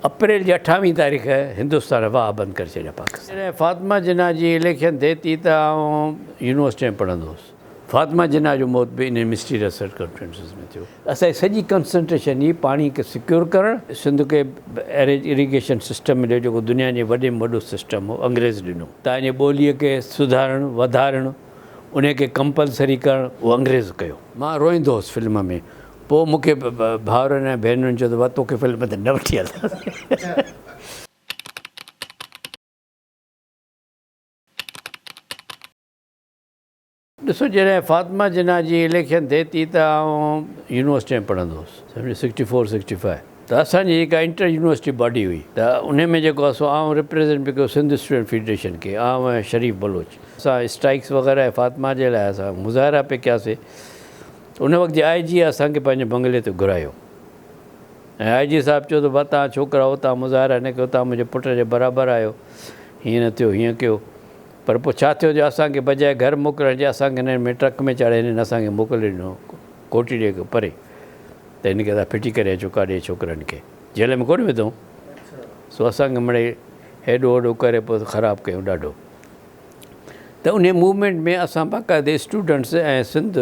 اپريل جي اٺاويهين تاريخ هندستان واهه بند ڪري ڇڏيا پاڪستان. جڏهن فاطمه جناح جي اليڪشن ٿئي ٿي ته آئون يونيورسٽي ۾ پڙهندو هوس. فاطمه جناح جو موت به انهن مسٽيريس سرڪمسٽنسز ۾ ٿيو. اسان جي سڄي ڪنسنٽريشن ئي پاڻي کي سڪيور ڪرڻ، سنڌ کي ايريج اريگيشن سسٽم مليو جيڪو دنيا جي وڏي ۾ وڏو سسٽم هو انگريز ڏنو. تان جي ٻوليء کي سڌارڻ، وڌارڻ، انهي کي ڪمپلسري ڪرڻ اهو انگريز ڪيو. مان روئيندو هوس فلم ۾ پوء مون کي ڀائرن ۽ ڀينرن چيو ته واھ توکي فلم تي نه وٺي هلنداسين. ڏسو جڏهن فاطمه جناح جي اليڪشن ٿئي ٿي ته آئون يونيورسٽي ۾ پڙهندو هوس سمجهيو سڪسٽي فور سڪسٽي فائيو. ته اسان جي جيڪا انٽر يونيورسٽي باڊي هئي ته انهي ۾ جيڪو اسو آئون ريپريزنٽ به ڪيو سنڌ اسٽوڊنٽ فيڊريشن کي آئون ۽ شريف بلوچ اسان اسٽرائڪس وغيره ۽ فاطمه جي لاء اسان مظاهرا پي ڪياسي ته ان وقت جي آئي جي اسان کي پنهنجي بنگلي تي گهرايو ۽ آئي جي صاحب چيو ته ڀا توهان ڇوڪرا اتان مظاهرا نه ڪيو توهان منهنجي پٽ جي برابر آهيو هيئن نه ٿيو هيئن ڪيو پر پوء ڇا ٿيو جو اسان کي بجاء گهر موڪلڻ جي اسان کي هنن ۾ ٽرڪ ۾ چاڙهي هنن اسان کي موڪلي ڏنو ڪوٽڙي کان پري. ته هن کي تان ڦٽي ڪري اچو ڪا ڏي ڇوڪرن کي جيل ۾ ڪونه وڌئون سو اسان کي مڙئي هيڏو هوڏو ڪري پوء خراب ڪيئون ڏاڍو ته انهي موومينٽ ۾ اسان باقاعده اسٽوڊنٽس ۽ سنڌ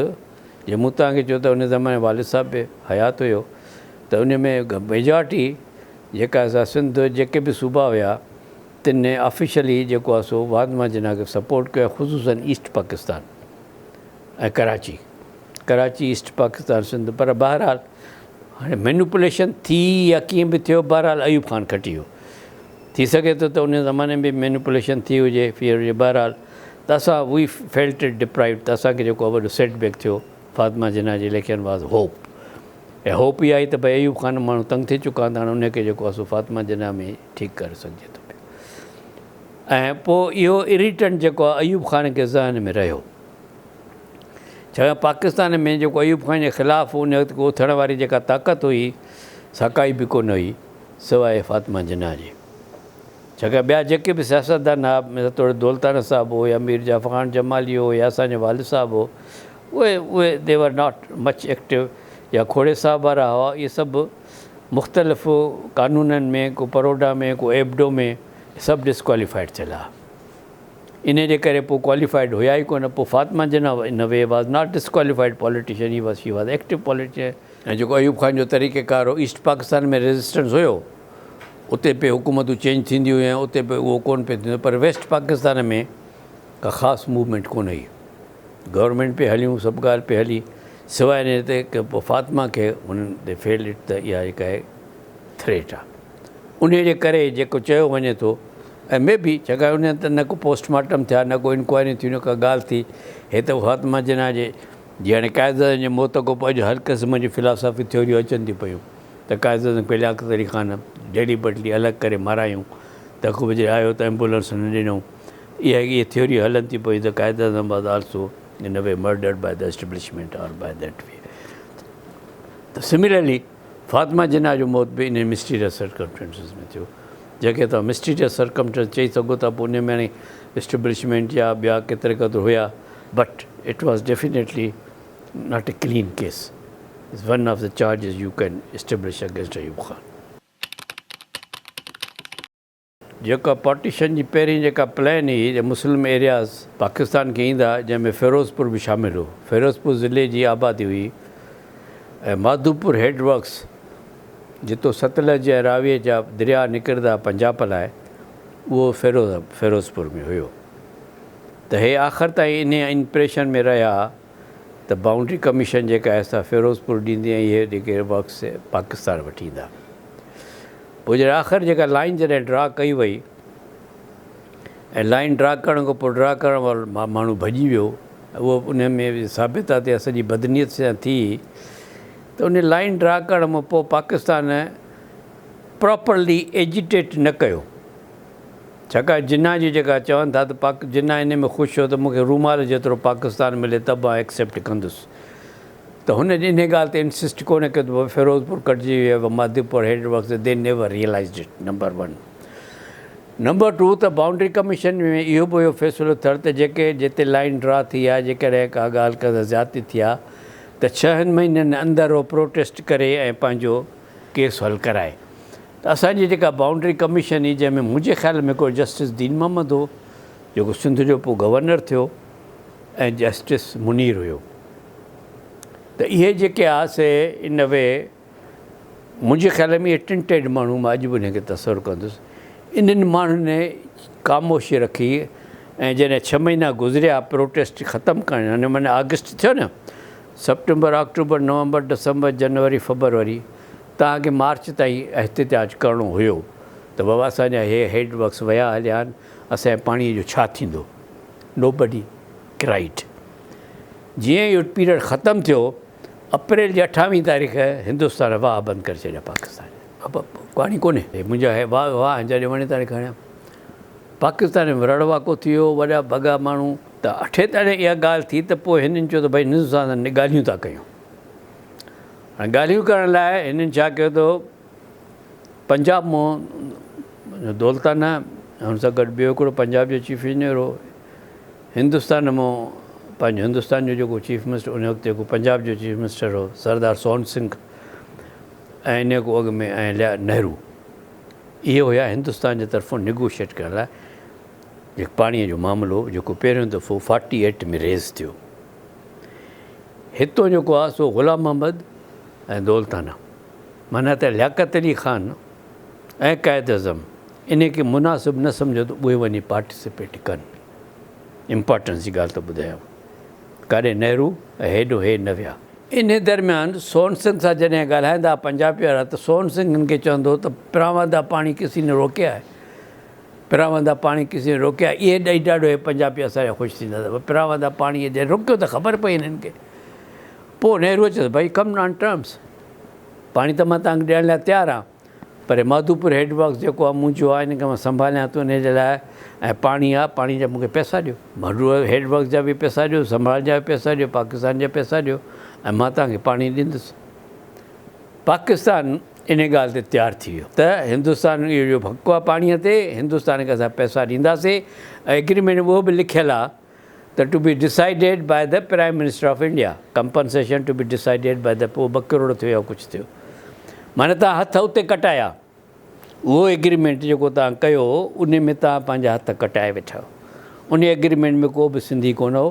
جي مون تان کي چيو ته انهي زماني والد صاحب به حيات هيو ته انهي ۾ ميجارٽي جيڪا اسان سنڌ جيڪي به صوبا هيا تن آفيشلي جيڪو آ سو واڌ مان جناح کي سپورٽ ڪيو خصوصن ايسٽ پاڪستان. ۽ ڪراچي ڪراچي ايسٽ پاڪستان سنڌ پر بهرحال هاڻي مينوپليشن ٿي يا ڪيئن به ٿيو بهرحال ايوب خان کٽي ويو ٿي سگهي ٿو ته ان زماني ۾ مينوپليشن ٿي هجي فيئر هجي بهرحال ته اسان وي فيلٽ اٽ ڊپرائيوڊ ته اسان کي جيڪو وڏو سيٽ بيڪ ٿيو فاطمه جناح جي election was hope a hope اها آهي ته ڀاء ايوب خان ماڻهو تنگ ٿي چڪا هوندا هاڻي ان کي جيڪو اسو فاطمه جناح ۾ ٺيڪ ڪري سگهجي ٿو ۽ پوء اهو اريٽنٽ جيڪو ايوب خان کي ذهن ۾ رهيو ڇاڪاڻ پاڪستان ۾ جيڪو ايوب خان جي خلاف ان وقت اوٿڻ واري جيڪا طاقت هئي سا ڪائي به ڪونه هئي سواء فاطمه جناح جي. ڇاڪاڻ ٻيا جيڪي به سياستدان هئا مثال طور دولتانه صاحب هو يا ميرزا فرحان جمالي هو يا اسان جو والد صاحب هو اهي اهي they were not much active يا کوڙي صاحب وارا هئا اهي سڀ مختلف قانونن ۾ ڪو پروڊا ۾ ڪو ايبڊو ۾ سڀ ڊسڪواليفائيڊ ٿيل هئا. انهي جي ڪري پوء ڪواليفائيڊ هيا ئي ڪونه پوء Fatima Jinnah in way was not disqualified politician he was she was active politician. ۽ جيڪو ايوب خان جو طريقه ڪار هو ايسٽ پاڪستان ۾ ريزسٽنس هيو اتي پي حڪومتون چينج ٿينديون هيون اتي پي اهو ڪونه پي ٿيندو پر ويسٽ پاڪستان ۾ ڪا خاص موومينٽ ڪونه هئي گورنمينٽ پي هليون سڀ ڳالهه پي هلي سواء انهي تي ڪه پوء فاطمه کي هنن دي فيلڊ اٽ ته اها هڪ آهي ٿريٽ آهي. انهيء جي ڪري ئي جيڪو چيو وڃي ٿو ۽ مي بي ڇاڪاڻ انهن هنڌ ته نه ڪو پوسٽ مارٽم ٿيا، نه ڪو انڪوائريون ٿيون، نه ڪا ڳالهه ٿي. هي ته فاطمه جناح جي جيئاڻي قائداعظم جي موت کانپوء اڄ هر قسم جون فلاسافي ٿيوريون اچن ٿيون پيون ته قائداعظم کي لياقت علي خان ڊيلي بٽلي الڳ ڪري مارايائون ته خوب جي آيو ته ايمبولنس نه ڏنئون اهي اهي ٿيوريون هلن ٿيون پيون ته Quaid-e-Azam was also in way murdered by the establishment or by that way ته سملرلي فاطمه جناح جو موت به انهن مسٽيريس سرڪمسٽنسز ۾ ٿيو، جنهن کي توهان مسٽيريس سرڪمسٽنس چئي سگهو ٿا، پوء انهيء ۾ هاڻي اسٽيبلشمينٽ يا ٻيا ڪيتري قدر هيا، but it was definitely not a clean case, is one of the charges you can establish against Ayub Khan. جيڪا پارٽيشن جي پهرين جيڪا پلان هئي ته مسلم ايرياز پاڪستان کي ايندا جنهن ۾ فيروزپور به شامل هو فيروزپور ضلعي جي آبادي هئي ۽ ماڌوپور هيڊ ورڪس جتو ستلج ۽ راويء جا درياء نڪرندا پنجاب لاء اهو فيروز فيروزپور ۾ هيو ته هي آخر تائين انهيء امپريشن ۾ رهيا ته بائونڊري ڪميشن جيڪا حصا فيروزپور ڏيندي ۽ اهي ڊگهي ورڪس پاڪستان وٺي ايندا. پوء جڏهن آخر جيڪا لائين جڏهن ڊرا ڪئي وئي ۽ لائين ڊرا ڪرڻ کان پوء ڊرا ڪرڻ وارو ماڻهو ڀڄي ويو ۽ اهو انهي ۾ به ثابت آهي ته اها سڄي بدنيت سان ٿي ته انهي لائين ڊرا ڪرڻ مان پوء پاڪستان پراپرلي ايجيٽيٽ نه ڪيو. ڇاڪاڻ جناح جي جيڪا چون ٿا ته پاڪ جناح انهي ۾ خوش هو ته مون کي رومال جيترو پاڪستان ملي ته به آء ايڪسيپٽ ڪندس ته هن انهي ڳالهه تي انسسٽ ڪونه ڪيو ته فيروزپور ڪٽجي ويو و مهديپور هيڊ ورڪس ته they never realised it number one number two ته باونڊري ڪميشن ۾ اهو به اهو فيصلو ٿيڻ ته جيڪي جتي لائين ڊرا ٿي آهي جيڪڏهن ڪا ڳالهه ڪا زيادتي ٿي آهي ته ڇهن مهينن اندر اهو پروٽيسٽ ڪري ۽ پنهنجو ڪيس حل ڪرائي ته اسان جي جيڪا بائونڊري ڪميشن هئي جنهن ۾ منهنجي خيال ۾ هڪڙو جسٽس دين محمد هو جيڪو سنڌ جو پوء گورنر ٿيو ۽ جسٽس منير هيو ته اهي جيڪي آ سي ان اي وي منهنجي خيال ۾ اهي ٽن ٽيڊ ماڻهو مان اڄ به انهن کي تصور ڪندس انهن ماڻهن ۾ خاموشي رکي ۽ جڏهن ڇهه مهينا گذريا پروٽيسٽ ختم ڪرڻ هن مهيني آگسٽ ٿيو نه سپٽمبر آڪٽوبر نومبر ڊسمبر جنوري فبروري توهان کي مارچ تائين احتجاج ڪرڻو هيو ته بابا اسان جا هي هيڊ ورڪس ويا هليا آهن اسان جي پاڻي جو ڇا ٿيندو نو بڊي ڪرائيڊ جيئن اهو پيريڊ ختم ٿيو اپريل جي اٺاويهين تاريخ هندستان واهه بند ڪري ڇڏيا پاڪستان پاڻي ڪونهي منهنجا هي واهه واهه جڏهن وڻي تڏهن کڻيا پاڪستان ۾ رڙ واڪو ٿي ويو وڏا بگا ماڻهو ته اٺي تڙي اها ڳالهه ٿي ته پوء هنن چيو ته ڀئي هندستان سان ڳالهيون ٿا ڪيون ڳالهيون ڪرڻ لاء هنن ڇا ڪيو ته پنجاب مون دولتانه ۽ هن سان گڏ ٻيو هڪڙو پنجاب جو چيف انجنيئر هو، هندستان مون پنهنجو هندستان جو جيڪو چيف منسٽر ان وقت جيڪو پنجاب جو چيف منسٽر هو سردار سون سنگهه ۽ انهيء کان اڳ ۾ ۽ ليا نهرو اهي هيا هندستان جي طرفون نيگوشيئيٽ ڪرڻ لاء جيڪو پاڻيء جو معاملو جيڪو پهريون دفعو فارٽي ايٽ ۾ ريز ٿيو. هتو جيڪو آ سو غلام محمد ۽ دولتانه معنيٰ ته لياقت علي خان ۽ قائد اعظم انهي کي مناسب نه سمجهيو ته اهي وڃي پارٽيسپيٽ ڪن. امپارٽنس جي ڳالهه ته ٻڌايائون. ڪاڏي نهرو ۽ هيڊو هي نه ويا. انهي درميان سون سنگ سان جڏهن ڳالهائيندا پنجابي وارا ته سون سنگ هن کي چوندو ته پراواندا پاڻي ڪسي نه روڪيا هي. پراوندا پاڻي ڪس ني روڪيا اي ڏئي ڏاڍو هي پنجابي اسان جا خوش ٿيندا ته پراوندا پاڻي جڏهن روڪيو ته خبر پئي هنن کي پوء نهرو چيس ڀائي ڪم آن ٽرمس پاڻي ته مان تانکي ڏيڻ لاء تيار آهيان پر ماڌوپور هيڊ ورڪس جيڪو آهي منهنجو آهي هن کي مان سنڀاليان ٿو ان جي لاء ۽ پاڻي آهي پاڻي جا مونکي پئسا ڏيو ماڊو هيڊ ورڪس جا به پئسا ڏيو سنڀال جا به پئسا ڏيو پاڪستان جا پئسا ڏيو ۽ مان تانکي پاڻي ڏيندس پاڪستان ان ڳالهه تي تيار ٿي ويو ته هندستان اهو جو حق آهي پاڻي تي هندستان کي اسان پئسا ڏينداسين ۽ اگريمينٽ ۾ اهو به لکيل آهي ته to be decided by the prime minister of India compensation to be decided by the پوء ٻه ڪروڙ ٿيو يا ڪجهه ٿيو معنيٰ تان هٿ اتي ڪٽايا اهو اگريمينٽ جيڪو تان ڪيو ان ۾ تان پنهنجا هٿ ڪٽائي ويٺا ان اگريمينٽ ۾ ڪو به سنڌي ڪونه هو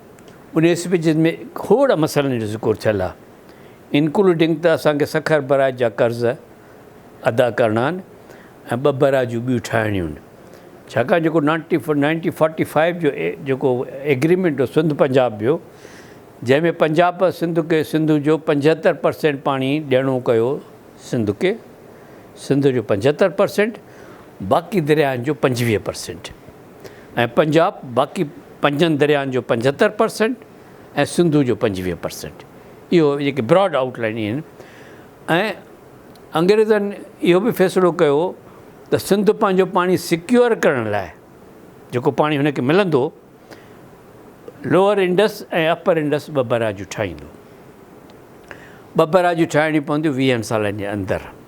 ان اسپيچز ۾ کوڙ مسئلن جو ذڪر ٿيل آهي انڪلوڊنگ ته اسان کي سکر برائج جا قرض ادا ڪرڻا آهن ۽ ٻه برائجون ٻيون ٺاهڻيون آهن ڇاڪاڻ جيڪو نائنٽي نائنٽي فورٽي فائيو جو جيڪو ايگريمنٽ هو سنڌ پنجاب جو جنهن ۾ پنجاب سنڌ کي سنڌ جو پنجهتر پرسينٽ پاڻي ڏيڻو ڪيو سنڌ کي سنڌ جو پنجهتر پرسينٽ باقي درياهن جو پنجويهه پرسينٽ ۽ پنجاب باقي پنجن درياهن جو پنجهتر پرسينٽ ۽ سنڌو جو پنجويهه پرسينٽ اهو جيڪي براڊ آئوٽ لائين اهي آهن ۽ انگريزن اهو به فيصلو ڪيو ته سنڌ پنهنجو پاڻي سيڪيور ڪرڻ لاء جيڪو پاڻي هن کي ملندو لوئر انڊس ۽ اپر انڊس ٻه براجون ٺاهيندو ٻه براجون ٺاهڻيون پونديون ويهن سالن جي اندر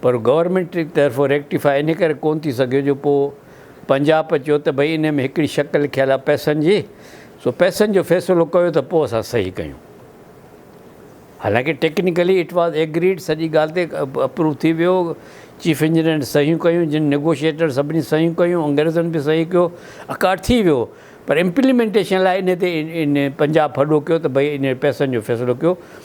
پر گورنمينٽ جي طرفون ريڪٽيفاء ان ڪري ڪون ٿي سگهيو جو پوء پنجاپ چيو ته ڀئي انهي ۾ هڪڙي شق لکيل آهي پئسن جي سو پئسن جو فيصلو ڪيو ته پوء اسان صحيح ڪيون حالانڪه ٽيڪنيڪلي اٽ واز ايگريڊ سڄي ڳالهه تي اپروو ٿي ويو چيف انجنيئرن صحيحون ڪيون جن نيگوشيئيٽر سڀني صحيحون ڪيون انگريزن به صحيح ڪيو اڪارڊ ٿي ويو پر امپليمينٽيشن لاء انهي تي پنجاپ ڦڏو ڪيو ته ڀئي انهي پئسن جو فيصلو ڪيو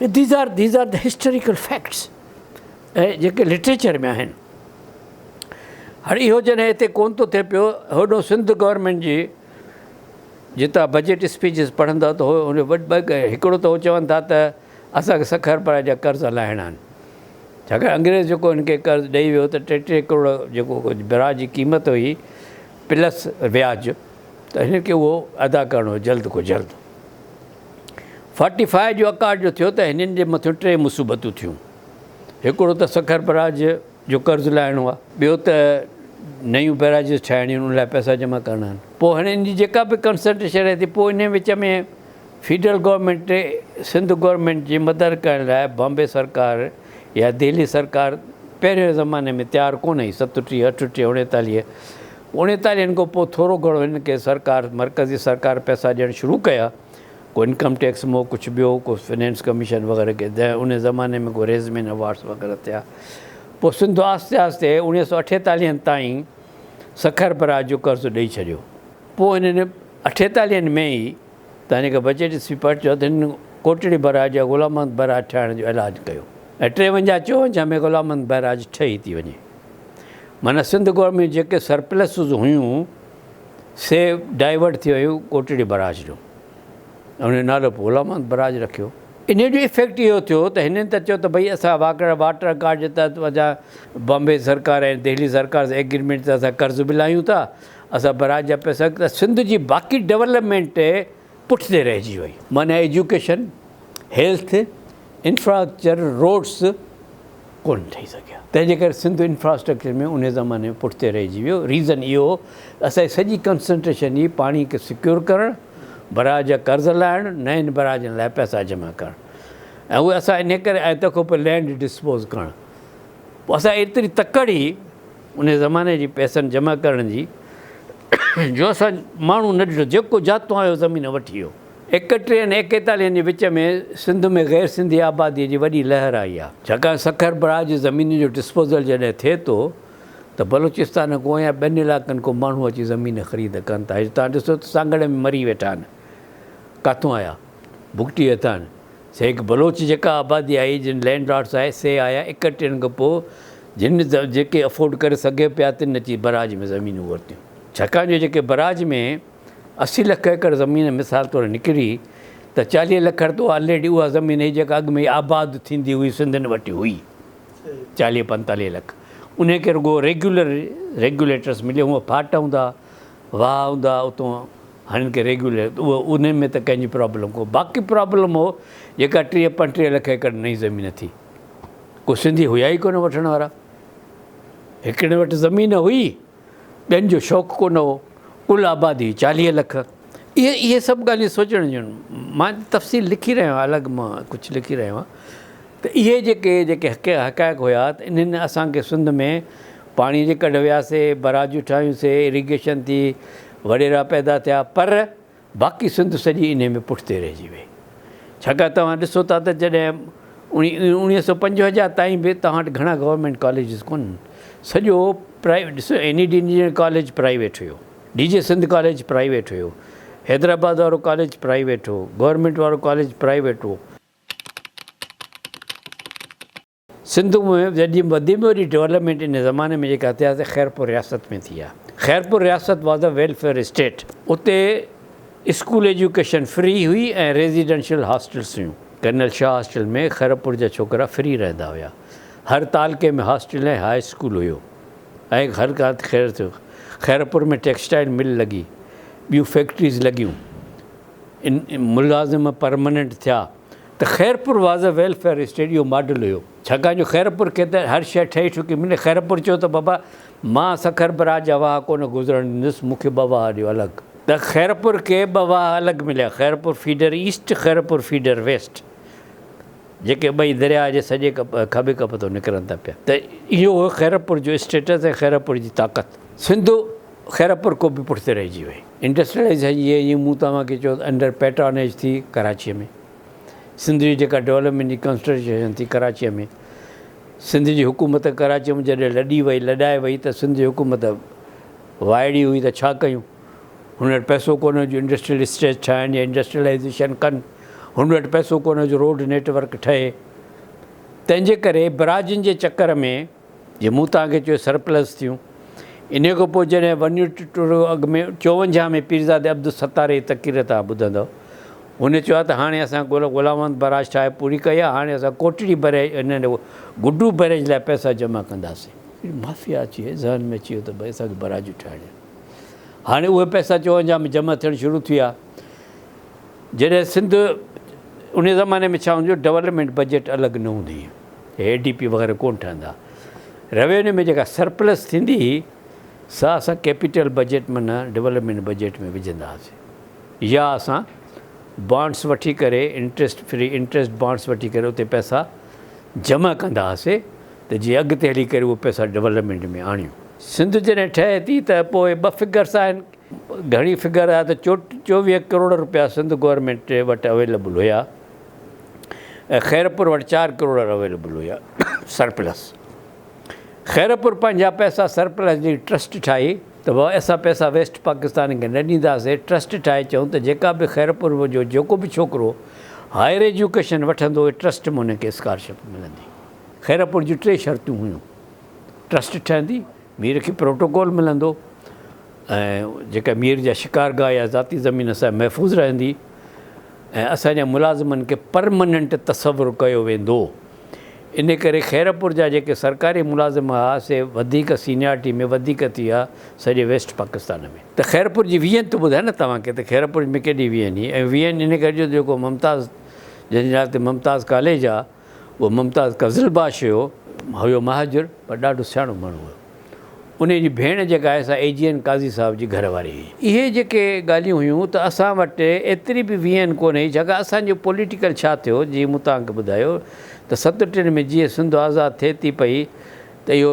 These are these are the historical facts اهي جيڪي لٽريچر ۾ آهن هر اهو جڏهن هتي ڪون ٿو ٿئي پيو هوڏو سنڌ گورنمنٽ جي جتان بجيٽ اسپيچز پڙهندا ته هو ان هڪڙو ته هو چون ٿا ته اسانکي سک اربع جا قرض لاهڻا آهن ڇاڪاڻ انگريز جيڪو هن کي قرض ڏئي ويو ته ٽي ٽي ڪروڙ جيڪو برا جي قيمت هئي پلس وياج ته هن کي اهو ادا ڪرڻو جلد کان جلد فاٽي فائيء جو اڪارجو ٿيو ته هنن جي مٿيون ٽي مصوبتون ٿيون. هڪڙو ته سکر بئراج جو قرض لاهڻو آهي. ٻيو ته نيون بئراجز ٺاهڻيون آهن، ان لاء پئسا جمع ڪرڻا آهن. پوء هاڻي ان جي جيڪا به ڪنسلٽيشن رهي ٿي، پوء انهيء وچ ۾ فيڊرل گورنمينٽ کي سنڌ گورنمينٽ جي مدد ڪرڻ لاء بامبي سرڪار يا دهلي سرڪار پهرين زماني ۾ تيار ڪونه هئي، ستٽيهه، اٺٽيهه، اڻيتاليهه اوڻيتاليهن کان پوء ٿورو گهڻو هن کي سرڪار، مرڪزي سرڪار پئسا ڏيڻ شروع ڪيا. ڪو انڪم ٽيڪس مئو ڪڇ ٻيو، ڪو فنينس ڪميشن وغيره ڪي دنهن انهي زماني ۾ ڪو ريزمين اوارڊز وغيره ٿيا. پوء سنڌ آهستي آهستي اوڻيهه سؤ اٺيتاليهن تائين سکر براج جو قرض ڏئي ڇڏيو. پوء انهن اٺيتاليهن ۾ ئي تاني کي بجيٽ اسپيپرٽ چيو ته هن ڪوٽڙي براج يا غلام محمد براج ٺاهڻ جو اعلان ڪيو ۽ ٽيونجاهه چوونجاهه ۾ غلام محمد براج ٺهي ٿي وڃي. معنيٰ سنڌ گور ۾ جيڪي سرپلسز هيون سي ڊائيورٽ ٿي ويون ڪوٽڙي براج ڏو ان جو نالو پوء غلام محمد براج رکيو. انهيء جو افيڪٽ اهو ٿيو ته هنن ته چيو ته ڀئي اسان واڪڙ واٽر ڪارڊ جي تحت وجا بامبي سرڪار ۽ دهلي سرڪار سان ايگريمينٽ تي اسان قرض به لاهيون ٿا اسان براج جا پئسا ته سنڌ جي باقي ڊولپمينٽ پٺتي رهجي وئي. معنيٰ ايجوڪيشن، هيلٿ، انفراسٽرڪچر، روڊس ڪونه ٺهي سگهيا. تنهن جي ڪري سنڌ انفراسٽرڪچر ۾ انهي زماني ۾ پٺتي رهجي ويو. ريزن اهو هو ته اسان جي سڄي ڪنسنٽريشن هئي پاڻي کي سيڪيور ڪرڻ، براج جا قرض لاهڻ، نئن براجن لاء پئسا جمع ڪرڻ ۽ اهي اسان انهي ڪري ۽ تنهن کان پوء لينڊ ڊسپوز ڪرڻ. پوء اسان جي ايتري تڪڙ هئي. انهيء زماني جي پئسن جمع ڪرڻ جي جو اسان ماڻهو نه ڏٺو، جيڪو جاتو آيو زمين وٺي ويو. ايڪٽيهن ۽ ايڪيتاليهن جي وچ ۾ سنڌ ۾ غير سنڌي آباديء جي وڏي لهر آئي آ. ڇاڪاڻ سکر براج جي زمينن جو ڊسپوزل جڏهن ٿئي ٿو ته بلوچستان کان يا ٻين علاقن کان ماڻهو اچي زمين خريد ڪن ٿا. اڄ توهان ڏسو ته سانگهڙ ۾ مري ويٺا آهن. ڪاٿون آيا؟ بگٽي هٿان. سي هڪ بلوچ جيڪا آبادي آئي، جن لينڊ لارڊس آهي، سي آيا ايڪٽيهن کان پوء. جن جيڪي افورڊ ڪري سگهي پيا تن اچي براج ۾ زمينون ورتيون ڇاڪاڻ جو جيڪي براج ۾ اسي لک ايڪڙ زمين مثال طور نڪري ته چاليهه لک رتو آلريڊي اها زمين هئي جيڪا اڳ ۾ آباد ٿيندي هئي سنڌين وٽ هئي چاليهه پنتاليهه لک انهي کي رڳو ريگيولر ريگيوليٽرس ملي هئا ڦاٽ هوندا واهه هوندا اتون هنن کي ريگيوليٽ اهو انهن ۾ ته ڪنهن جي پرابلم ڪو باقي پرابلم هو جيڪا ٽيهه پنٽيهه لک ايڪڙ نئي زمين ٿي ڪو سنڌي هيا ئي ڪونه وٺڻ وارا. هڪڙي وٽ زمين هئي، ٻين جو شوق ڪونه هو. ڪل آبادي چاليهه لک. اهي اهي سڀ ڳالهيون سوچڻ جون آهن. مان تفصيل لکي رهيو آهيان الڳ مان ڪجهه لکي رهيو آهيان ته اهي جيڪي جيڪي حقائق هيا ته انهن اسان کي سنڌ ۾ پاڻي جي ڪڍ وياسي، براجون ٺاهيون سي، اريگيشن ٿي، وڏيرا پيدا ٿيا پر باقي سنڌ سڄي انهي ۾ پٺتي رهجي وئي. ڇاڪاڻ توهان ڏسو ٿا ته جڏهن اوڻيهه سؤ پنجونجاهه تائين به توهان وٽ گهڻا گورنمينٽ ڪاليجز ڪونهن سڄو پرائيويٽ ڏسو N E D engineering college private هيو D J Sindh college private هيو حيدرآباد وارو ڪاليج پرائيويٽ هو گورنمينٽ وارو ڪاليج پرائيويٽ هو. سنڌو مهم جڏھن وڌي ٻوڏي ڊولپمينٽ ان زماني ۾ جيڪا اتحاد سان خيرپور رياست ۾ ٿي ھا خيرپور رياست was a welfare state اتي اسڪول ايجوڪيشن فري ھئي ۽ ريزيڊنشل ھاسٽلس ھيون ڪرنل شاھ ھاسٽل ۾ خيرپور جا ڇوڪرا فري رھندا ھيا ھر تعلقي ۾ ھاسٽل ۽ ھاء اسڪول ھيو ۽ ھر ڪانت خير ٿيو خيرپور ۾ ٽيڪسٽائل مل لڳي ٻيون فيڪٽريز لڳيون ان ملازم پرماننٽ ٿيا. ته Khairpur was a welfare state اهو ماڊل هيو ڇاڪاڻ جو خيرپور کي ته هر شيء ٺهي ٺڪي ملي خيرپور چيو ته بابا مان سکر براج جا واهه ڪونه گذرڻ ڏيندس مون کي ٻه واهه ڏيو الڳ ته خيرپور کي ٻه واهه الڳ مليا Khairpur feeder east Khairpur feeder west جيڪي ٻئي درياهه جي سڄي کٻي ڪپ تان نڪرن ٿا پيا ته اهو هو خيرپور جو اسٽيٽس ۽ خيرپور جي طاقت سنڌو خيرپور ڪوبه پٺتي رهجي وئي. انڊسٽريلائيزيشن جي جيئن مون توهان کي چيو ته انڊر پيٽرانيج ٿي ڪراچيء ۾ سنڌ جي جيڪا ڊولپمينٽ جي ڪنسٽريشن ٿي ڪراچيء ۾ سنڌ جي حڪومت ڪراچيء ۾ جڏهن لڏي وئي لڏائي وئي ته سنڌ جي حڪومت وائڙي هئي ته ڇا ڪيون هن وٽ پئسو ڪونه جو انڊسٽريل اسٽيٽ ٺاهن يا انڊسٽريلائيزيشن ڪن هن وٽ پئسو ڪونه جو روڊ نيٽ ورڪ ٺهي تنهنجي ڪري براجن جي چڪر ۾ جي مون توهان کي چيو سرپلس ٿيون. انهيء کان پوء جڏهن ون يونٽ ٽوڙو اڳ ۾ چونجاهه ۾ پيرزادي عبدالستار جي تقرير توهان ٻڌندؤ. هن چيو آهي ته هاڻي اسان گل غلام محمد براج ٺاهي پوري ڪئي آهي، هاڻي اسان Kotri bridge and Guddu bridge لاء پئسا جمع ڪنداسين. هڪڙي مافيا اچي ذهن ۾ اچي ويو ته ڀئي اسان کي براجون ٺاهڻيون آهن. هاڻي اهي پئسا چونجاهه ۾ جمع ٿيڻ شروع ٿيا. جڏهن سنڌ انهيء زماني ۾ ڇا هوندو هو ڊولپمينٽ بجيٽ الڳ نه هوندي هئي. اي ڊي پي وغيره ڪونه ٺهندا روينيو ۾ جيڪا سرپلس ٿيندي هئي سا اسان ڪيپيٽل بجيٽ ۾ نه ڊولپمينٽ بجيٽ ۾ وجهندا هئاسي يا اسان بانڊس وٺي ڪري انٽريسٽ فري انٽريسٽ بانڊس وٺي ڪري اتي پئسا جمع ڪندا هئاسي ته جي اڳتي هلي ڪري اهي پئسا ڊولپمينٽ ۾ آڻيون. سنڌ جڏهن ٺهي ٿي ته پوء ٻه فگرس آهن گهڻي فگر آهي ته چوويهه ڪروڙ روپيا سنڌ گورنمينٽ وٽ اويليبل هيا. ۽ خيرپور وٽ چار ڪروڙ اويليبل هيا، سرپلس. خيرپور پنهنجا پئسا سرپلس جي ٽرسٽ ٺاهي ته وئا اسان پئسا ويسٽ پاڪستان کي نه ڏينداسين، ٽرسٽ ٺاهي چئون ته جيڪا به خيرپور جو جيڪو به ڇوڪرو هائير ايجوڪيشن وٺندو ٽرسٽ مان ان کي اسڪالرشپ ملندي. خيرپور جون ٽي شرطون هيون، ٽرسٽ ٺهندي، مير کي پروٽوڪول ملندو ۽ جيڪا مير جا شڪارگاهه يا ذاتي زمين سا محفوظ رهندي. ۽ اسان جا ملازمن کي پرماننٽ تصور ڪيو ويندو ان ڪري خيرپور جا جيڪي سرڪاري ملازم ھئا سي وڌيڪ سينيارٽي ۾ وڌيڪ ٿي ھئا سڄي ويسٽ پاڪستان ۾. ته خيرپور جي ويھين ته ٻڌايو نه توھان کي ته خيرپور ۾ ڪيڏي ويھين ھئي ۽ ويھين ان ڪري جو جيڪو ممتاز جنھن جي نالي تي ممتاز ڪاليج آ. اهو ممتاز قزلباش هيو. هيو مهاجر پر ڏاڍو سياڻو ماڻهو هيو. انهيء جي ڀيڻ جيڪا آهي سا اي جي اين قاضي صاحب جي گهر واري هئي. اهي جيڪي ڳالهيون هيون ته اسان وٽ ايتري به وي اين ڪونه هئي ڇاڪاڻ اسان جو پوليٽيڪل ڇا ٿيو جيئن مون توهان کي ٻڌايو ته ستٽن ۾ جيئن سنڌ آزاد ٿئي ٿي پئي ته اهو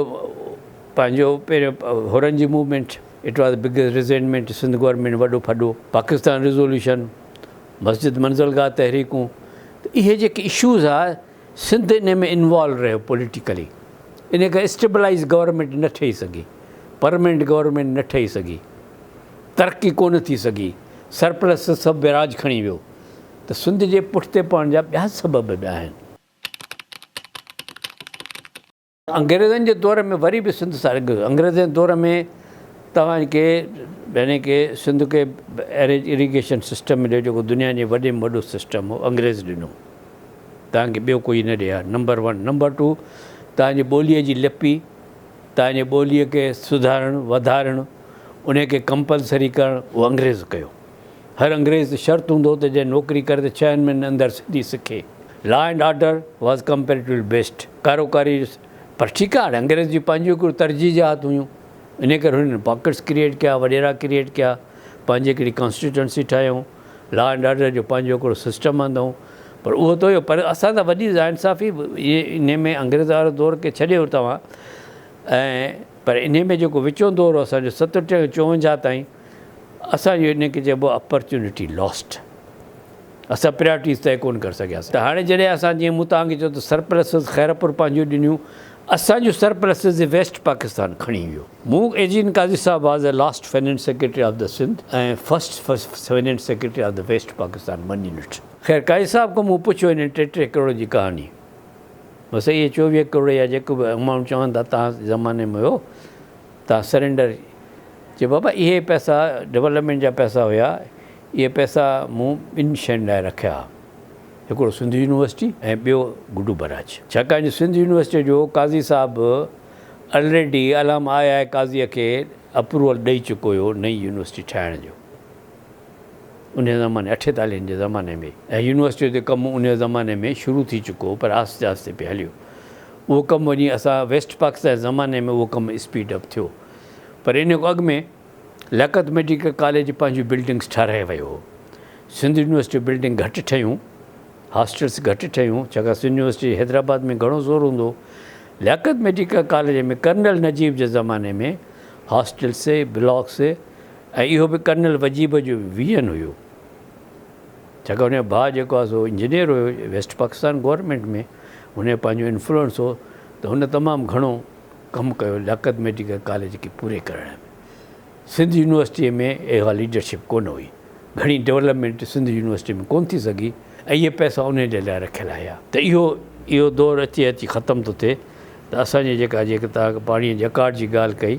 پنهنجو پهريون حرن جي movement it was the biggest resentment Sindh government وڏو ڦڏو پاڪستان ريزوليوشن مسجد منزل گاهه تحريڪون ته اهي جيڪي اشوز ها سنڌ انهي ۾ انوالو رهيو پوليٽيڪلي انهي ڪري اسٽيبلائيز گورنمينٽ نه ٺهي سگهي پرمينٽ گورنمينٽ نه ٺهي سگهي ترقي ڪونه ٿي سگهي سرپلس سب ويراج کڻي ويو ته سنڌ جي پٺتي پوڻ جا ٻيا سبب به آهن. انگريزن جي دور ۾ وري به سنڌ سان اڳ انگريزن جي دور ۾ توهان کي يعني ڪي سنڌ کي اريج اريگيشن سسٽم مليو جيڪو دنيا جي وڏي ۾ وڏو سسٽم هو انگريز ڏنو توهان کي ٻيو ڪوئي نه ڏي ها نمبر ون نمبر ٽو توهان جي ٻوليء جي لپي توهان جي ٻوليء کي سڌارڻ وڌارڻ ان کي ڪمپلسري ڪرڻ اهو انگريز ڪيو هر انگريز شرط هوندو ته جنهن نوڪري ڪري ته ڇهن مهينن اندر سنڌي سکي. Law and order was comparatively best. ڪارو ڪاري هيس. پر ٺيڪ آهي هاڻي انگريز جون پنهنجيون هڪڙيون ترجيح جهات هيون. انهيء ڪري هنن پاڪيٽس ڪريئيٽ ڪيا، وڏيرا ڪريئيٽ ڪيا، پنهنجي هڪڙي ڪانسٽيٽوئنسي ٺاهيائون، لا اينڊ آرڊر جو پنهنجو هڪڙو سسٽم آندائون. پر اهو ته هيو پر اسان سان وڏي ناانصافي به اهي انهيء ۾ انگريز وارو دور کي ڇڏيو توهان ۽ پر انهيء ۾ جيڪو وچون دور هو اسان جو ستٽيهه کان چوونجاهه تائين، اسان جو ان کي چئبو اپرچونٽي لاسٽ اسان پريارٽيز طئي ڪون ڪري سگهياسين ته هاڻي جڏهن اسان جيئن مون توهان کي چيو ته سرپلسز خيرپور پنهنجيون ڏنيون اسان جون سرپلسز جي ويسٽ پاڪستان کڻي ويو مون ايجين قاضي صاحب was a last finance secretary of the Sindh ۽ first finance secretary of the West Pakistan ٻنهي نٽ خير قاضي صاحب کان مون پڇيو انهن ٽي ٽي ڪروڙ جي ڪهاڻي بس اهي چوويهه ڪروڙ يا جيڪو به امائونٽ چون ٿا توهان زماني ۾ هيو تان سرينڊر چيو بابا اهي پئسا ڊولپمينٽ جا پئسا هيا اهي پئسا مون ٻن شين لاء رکيا ها هڪڙو سنڌ يونيورسٽي ۽ ٻيو گڊو بئراج ڇاڪاڻ جو سنڌ يونيورسٽي جو قاضي صاحب به الريڊي علامه آء آء قاضي کي اپروول ڏئي چڪو هيو نئين يونيورسٽي ٺاهڻ جو. انهيء زماني، اٺيتاليهن جي زماني ۾، ۽ يونيورسٽيء تي ڪم انهيء زماني ۾ شروع ٿي چڪو هو، پر آهستي آهستي پئي هليو. اهو ڪم وڃي اسان ويسٽ پاڪستان جي زماني ۾ اهو ڪم اسپيڊ اپ ٿيو. پر انهيء کان اڳ ۾ لياقت ميڊيڪل ڪاليج پنهنجون بلڊنگس ٺهرائي ويو هو. سنڌ يونيورسٽيء بلڊنگ گهٽ ٺهيون، هاسٽلس گهٽ ٺهيون، ڇاڪاڻ سنڌ يونيورسٽيء جي حيدرآباد ۾ گهڻو زور هوندو هو. Liaquat medical college ۾ colonel Najib جي زماني ۾ هاسٽلس، بلاڪس، ۽ اهو به ڪرنل وجيب جو ويزن هيو ڇاڪاڻ هن جو ڀاء جيڪو آهي سو انجنيئر هيو ويسٽ پاڪستان گورنمينٽ ۾ هن جو پنهنجو انفلوئنس هو ته هن تمام گهڻو ڪم ڪيو لياقت ميڊيڪل ڪاليج کي پوري ڪرڻ ۾ سنڌ يونيورسٽي ۾ اها ليڊرشپ ڪونه هئي گهڻي ڊولپمينٽ سنڌ يونيورسٽي ۾ ڪونه ٿي سگهي ۽ اهي پئسا انهي جي لاء رکيل هيا ته اهو اهو دور اچي اچي ختم ٿو ٿئي. ته اسان جي جيڪا جيڪي توهان پاڻي جي اڪارڊ جي ڳالهه ڪئي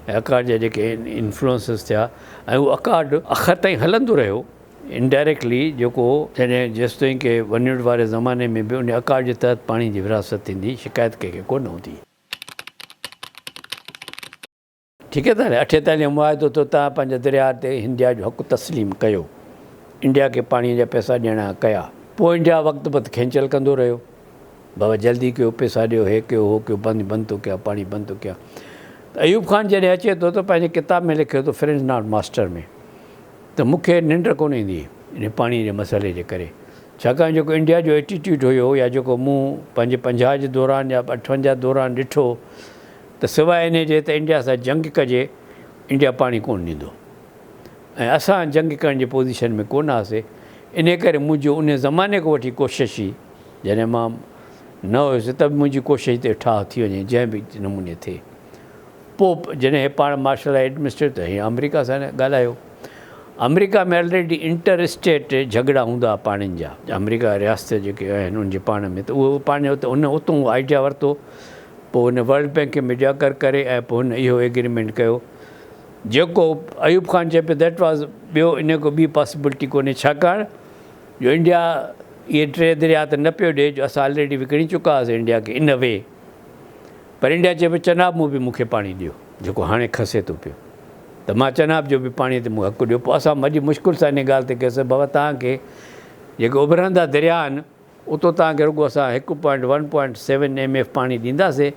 ۽ اڪارڊ جا جيڪي انفلوئنسز ٿيا ۽ اهو اڪارڊ اخر تائين هلندو رهيو انڊائريڪٽلي جيڪو جڏهن جيستائين ڪي ونڊ واري زماني ۾ به ان اڪارڊ جي تحت پاڻي جي ورهاست ٿيندي شڪايت ڪنهن کي ڪونه هوندي. ٺيڪ آهي ته نه؟ اٺين تائين جو معاهدو ٿيو، تنهن پنهنجي درياهه تي هنڊيا جو حق تسليم ڪيو، انڊيا کي پاڻيء جا پئسا ڏيڻا ڪيا، پوء انڊيا وقت بت کينچل ڪندو رهيو، بابا جلدي ڪيو، پئسا ڏيو، هي ڪيو، هو ڪيو، پاڻي بند ٿو ڪيان، پاڻي بند ٿو ڪيان. ته ايوب خان جڏهن اچي ٿو ته پنهنجي ڪتاب ۾ لکيو ٿو Friends Not Master ۾ ته مون کي ننڊ ڪونه ايندي هئي انهي پاڻيء جي مسئلي جي ڪري، ڇاڪاڻ جيڪو انڊيا جو Attitude هيو يا جيڪو مون پنهنجي پنجاهه جي دوران يا اٺونجاهه دوران ڏٺو، ته سواء انهيء جي ته انڊيا سان جنگ ڪجي، انڊيا پاڻي ڪونه ڏيندو ۽ اسان جنگ ڪرڻ جي پوزيشن ۾ ڪونه هئاسي، انهيء ڪري منهنجو انهيء زماني کان وٺي ڪوشش هئي، جڏهن مان نه هيس ته به منهنجي ڪوشش ته اهي ٺاهه ٿي وڃي، جنهن به نموني ٿئي. پوء جڏهن هي پاڻ مارشل آئي ايڊمنسٽريٽر ته هيئن آمريڪا سان ڳالهايو. آمريڪا ۾ الريڊي انٽر اسٽيٽ جهڳڙا هوندا هئا پاڻين جا. آمريڪا رياست جيڪي آهن ان جي پاڻ ۾ ته اهو پاڻ اتون آئيڊيا ورتو پوء هن ورلڊ بينڪ کي ميڊيا ڪر ڪري ۽ پوء هن اهو ايگريمينٽ ڪيو جيڪو ايوب خان چئي پيو ڌيٽ واز ٻيو انهيء کان ٻي پاسيبلٽي ڪونهي ڇاڪاڻ جو انڊيا اهي ٽي درياهه ته نه پيو ڏئي جو اسان آلريڊي وڪڻي چڪا هئاسين انڊيا کي ان وي پر انڊيا چئي پيو چناب مون به مون کي پاڻي ڏيو جيڪو هاڻي کسي ٿو پيو ته مان چناب جو به پاڻي تي مون حق ڏيو پوء اسان وڏي مشڪل سان انهيء ڳالهه تي ڪيس ته بابا توهان کي جيڪي اڀرندا درياهه آهن اتو توهان کي رڳو اسان هڪ point one point seven M F پاڻي ڏينداسين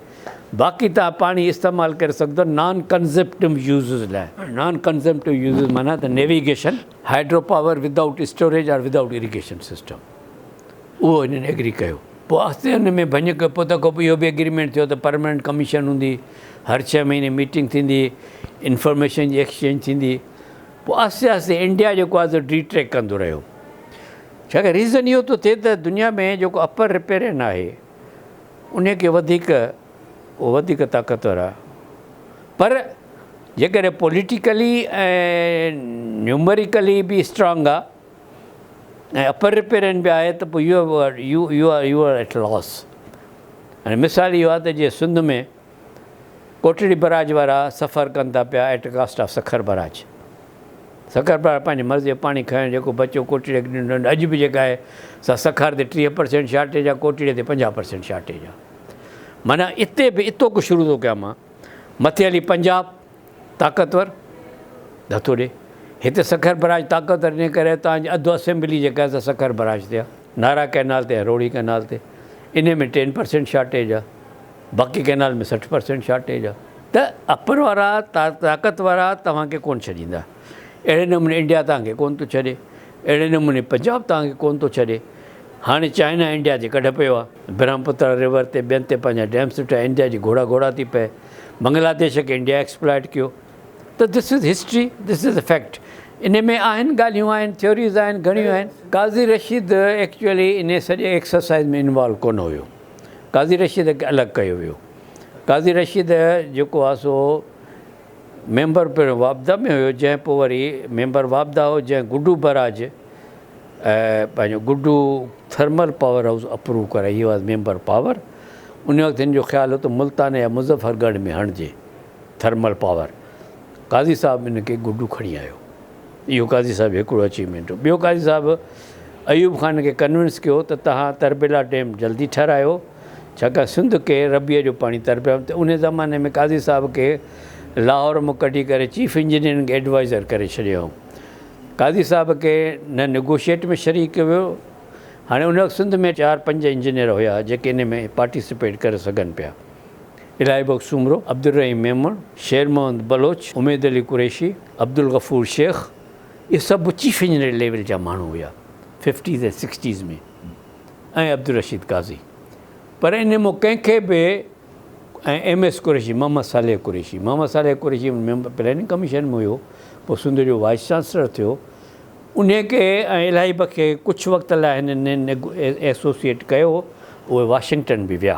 باقي توهان پاڻي استعمال ڪري سگهندو نان ڪنزمپٽو يوزز لاء. نان ڪنزمپٽو يوزز معنيٰ ته navigation, hydro power without storage or without irrigation system اهو هنن ايگري ڪيو. پوء آهستي ان ۾ ڀڃ ڪئي پوء تنهن کان پوء اهو به ايگريمينٽ ٿيو ته پرماننٽ ڪميشن هوندي هر ڇهه مهيني ميٽنگ ٿيندي انفارميشن جي ايڪسچينج ٿيندي پوء آهستي آهستي انڊيا جيڪو آهي سو ڊي ٽريڪ ڪندو رهيو. ڇاڪاڻ ريزن اهو ٿو ٿئي ته دنيا ۾ جيڪو اپر رپيرين آهي انهي کي وڌيڪ اهو وڌيڪ طاقتور آهي پر جيڪڏهن پوليٽيڪلي ۽ نيومريڪلي به اسٽرانگ آهي ۽ اپر رپيرين به آهي ته پوء you you you are you are at loss مثال اهو آهي ته جيئن سنڌ ۾ ڪوٽڙي بئراج وارا سفر ڪن ٿا پيا at cost of Sukkur barrage Sukkur barrage پنهنجي مرضي جو پاڻي کڻي جيڪو بچيو ڪوٽڙي کي ڏنو اڄ به جيڪا آهي سا سکر تي ٽيهه پرسينٽ شارٽيج آهي ڪوٽڙي تي پنجاهه پرسينٽ شارٽيج آهي معنيٰ اتي به اتو ڪو شروع ٿو ڪيان مان مٿي هلي پنجاب طاقتور ڌتو ڏي هتي سکر بئراج طاقتور ان ڪري تانجي اڌ اسيمبلي جيڪا آهي سا سکر بئراج تي آهي نارا ڪئنال تي روهڙي ڪئنال تي ان ۾ ٽين پرسينٽ شارٽيج آهي باقي ڪئنال ۾ سٺ پرسينٽ شارٽيج آ ته اپر وارا طاقت وارا توهان کي ڪونه ڇڏيندا اهڙي نموني انڊيا توهان کي ڪونه ٿو ڇڏي اهڙي نموني پنجاب توهان کي ڪونه ٿو ڇڏي هاڻي چائنا انڊيا جي ڪڍ پيو آ برهمپوترا ريور تي ٻين تي پنهنجا ڊيمس ٺهيا انڊيا جي گهوڙا گهوڙا ٿي پئي بنگلاديش کي انڊيا ايڪسپلائيٽ ڪيو ته this is history this is fact ان ۾ آهن ڳالهيون آهن ٿيوريز آهن گهڻيون آهن قاضي رشيد ايڪچوئلي ان سڄي ايڪسرسائيز ۾ انوالو ڪونه هيو قاضي رشيد کي الڳ ڪيو ويو. قاضي رشيد جيڪو آ سو ميمبر پڻ واپدا ۾ هيو جنهن پوء وري ميمبر واپدا هو جنهن گڊو بئراج پنهنجو Guddu thermal power house approve ڪرائي هي واز ميمبر پاور ان وقت هن جو خيال هو ته ملتان يا مظفر ڳڙهه ۾ هڻجي ٿرمل پاور قاضي صاحب ان کي گڊو کڻي آيو. اهو قاضي صاحب هڪڙو اچيومينٽ هو. ٻيو قاضي صاحب ايوب خان کي ڪنوينس ڪيو ته توهان تربيلا ڊيم جلدي ٺهرايو ڇاڪاڻ سنڌ کي ربيع جو پاڻي تربيلا ۾ ته انهي زماني ۾ قاضي صاحب کي لاهور مان ڪڍي ڪري چيف انجنيئرنگ ايڊوائيزر ڪري ڇڏيو هو قاضي صاحب کي نه نيگوشيئيٽ ۾ شريڪ ڪيو ويو هاڻي ان وقت سنڌ ۾ چار پنج انجنيئر هيا جيڪي انهي ۾ پارٽيسپيٽ ڪري سگهن پيا. الاهي بخش سومرو، عبدالرحيم ميمڻ، شير محمد بلوچ، اميد علي قريشي، عبدالغفور شيخ اهي سڀ چيف انجنيئر ليول جا ماڻهو هيا ففٽيز ۽ سڪسٽيز ۾ ۽ عبدالرشيد قاضي پر انهن مان ڪنهن کي به ۽ M S Qureshi Muhammad Saleh Qureshi Muhammad Saleh Qureshi member planning commission ۾ هيو پوء سنڌ جو وائيس چانسلر ٿيو انهي کي ۽ الاهي بخش کي ڪجهه وقت لاء هنن ايسوسيئيٽ ڪيو اهي واشنگٽن به ويا.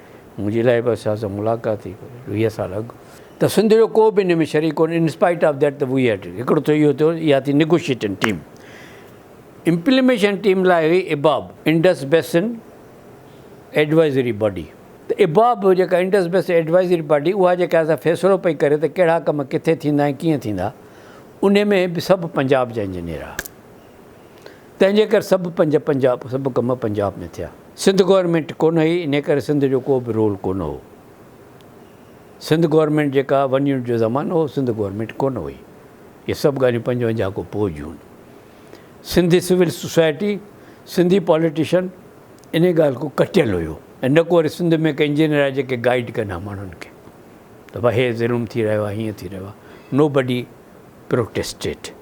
منهنجي لاء به اسان سان ملاقات ٿي ويهه سال اڳ ته سنڌ جو ڪو به ان ۾ شريڪ ڪونهي ان اسپائيٽ آف ديٽ ته وي هيڊ هڪڙو ٿيو اهو ٿيو اها ٿي نيگوشيٽنگ ٽيم امپليميشن ٽيم لاء هئي اباب انڊس بيسن ايڊوائزري باڊي ته اباب جيڪا انڊس بيسن ايڊوائزري باڊي اها جيڪا اسان فيصلو پئي ڪري ته ڪهڙا ڪم ڪٿي ٿيندا ۽ ڪيئن ٿيندا ان ۾ به سڀ پنجاب جا انجنيئر آ تنهن جي ڪري سڀ پنج پنجاب سڀ ڪم پنجاب ۾ ٿيا. سنڌ گورنمينٽ ڪونه هئي انهي ڪري سنڌ جو ڪو به رول ڪونه هو. سنڌ گورنمينٽ جيڪا ون يونٽ جو زمانو هو سنڌ گورنمينٽ ڪونه هئي. اهي سڀ ڳالهيون پنجونجاهه کان پوء جون آهن. Sindhi civil society Sindhi politician انهي ڳالهه کان ڪٽيل هيو. ۽ نه ڪو وري سنڌ ۾ ڪي انجنيئر آهي جيڪي گائيڊ ڪن ها ماڻهن کي ته ڀاء هي ظلم ٿي رهيو آهي هيئن ٿي رهيو آهي نو بڊي پروٽيسٽيڊ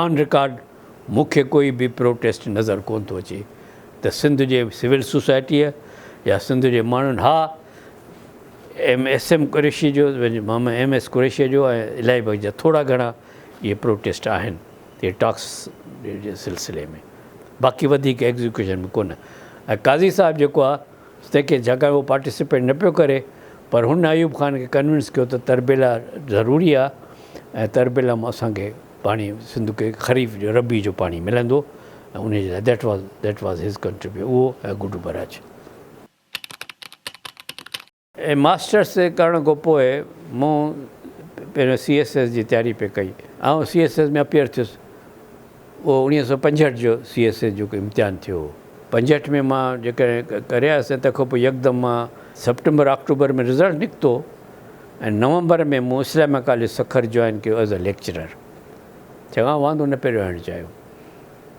آن رڪارڊ. مون کي ڪوئي به پروٽيسٽ نظر ڪونه ٿو اچي ته سنڌ جي سول سوسائٽيء يا سنڌ جي ماڻهن ها ايم ايس ايم قريشيء جو مام ايم ايس قريشيء جو ۽ الائي بخش جا ٿورا گهڻا اهي پروٽيسٽ آهن تي ٽاڪس جي سلسلي ۾ باقي وڌيڪ ايگزيڪيوشن ۾ ڪونه ۽ قاضي صاحب جيڪو آهي تنهن کي جاکان هو پارٽيسپيٽ نه پيو ڪري پر هن ايوب خان کي ڪنوينس ڪيو ته تربيلا ضروري آهي ۽ تربيلا مان اسان کي پاڻي سنڌ کي خريف جو ربيع جو پاڻي ملندو ۽ ان جي لاء that was that was his contribute اهو ۽ گڊو بئراج. ايم ماسٽرس ڪرڻ کان پوء مون پهريون سي ايس ايس جي تياري پئي ڪئي آئون سي ايس ايس ۾ اپيئر ٿيس اهو اوڻيهه سؤ پنجهٺ جو سي ايس ايس جو امتحان ٿيو هو پنجهٺ ۾ مان جيڪڏهن ڪري آيس ته تنهن کان پوء يڪدم مان سپٽمبر آڪٽوبر ۾ رزلٽ نڪتو ۽ نومبر ۾ مون اسلاميا ڪاليج سکر جوائن ڪيو ايز اي ليڪچرر چڱا واندو نه پئي رهڻ چاهيو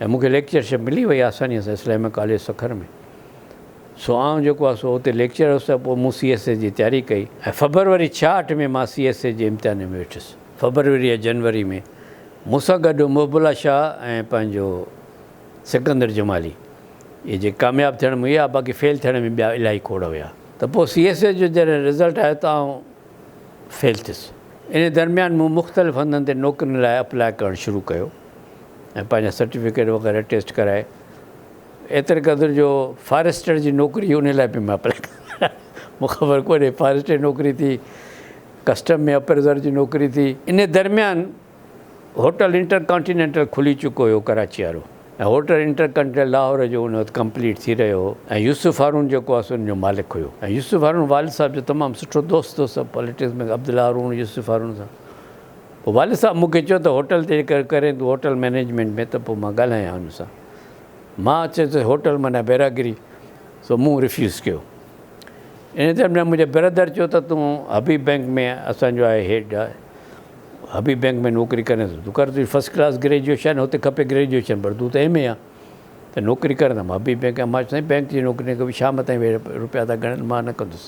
۽ مون کي ليڪچرشپ ملي وئي آسانيء سان اسلاميا ڪاليج سکر ۾ سو آئون جيڪو آهي سو اتي ليڪچرر هوس ته پوء مون سي ايس اي جي تياري ڪئي ۽ فبروري ڇاهٺ ۾ مان سي ايس اي جي امتحانن ۾ ويٺس فبروري يا جنوري ۾ مون سان گڏ محب الله شاهه ۽ پنهنجو سڪندر جمالي اهي جيڪي ڪامياب ٿيڻ ۾ هيا باقي فيل ٿيڻ ۾ ٻيا الاهي کوڙ هيا. ته پوء سي ايس اي جو جڏهن رزلٽ آيو ته آئون فيل ٿيس. انهيء درميان مون مختلف هنڌن تي نوڪرين لاء اپلاء ڪرڻ شروع ڪيو ۽ پنهنجا سرٽيفڪيٽ وغيره ٽيسٽ ڪرائي ايتري قدر جو فاريسٽر جي نوڪري هئي انهيء لاء به مان اپلاء ڪيو. مون کي خبر ڪونهي فاريسٽر جي نوڪري ٿي، ڪسٽم ۾ اپريزر جي نوڪري ٿي. انهيء درميان هوٽل انٽر ڪانٽينينٽل کلي چڪو هيو ڪراچي وارو ۽ هوٽل انٽر ڪانٽينينٽل لاهور جو ان وقت ڪمپليٽ ٿي رهيو هو ۽ يوسف هارون جيڪو آس ان جو مالڪ هيو ۽ يوسف هارون والد صاحب جو تمام سٺو دوست هو سڀ پاليٽڪس ۾ عبدالله هارون يوسف هارون سان پوء والد صاحب مون کي چيو ته هوٽل تي جيڪر ڪرين تون هوٽل مينيجمينٽ ۾ ته پوء مان ڳالهايان ان سان مان چيس ته هوٽل معنيٰ بيراگري سو مون ريفيوز ڪيو ان درميان منهنجي برادر چيو ته تون حبيب بينڪ ۾ اسان جو آهي هيڊ آهي حبيب بئنڪ ۾ نوڪري ڪرين ٿو تون ڪر تنهنجي فرسٽ ڪلاس گريجوئيشن هتي کپي گريجوئيشن پر تون ته ايم اي آن ته نوڪري ڪر ته حبيب بئنڪ ۾ ماچيو سائين بئنڪ جي نوڪري نه ڪبي شام تائين ويهه روپيا ٿا ڳڻن مان نه ڪندس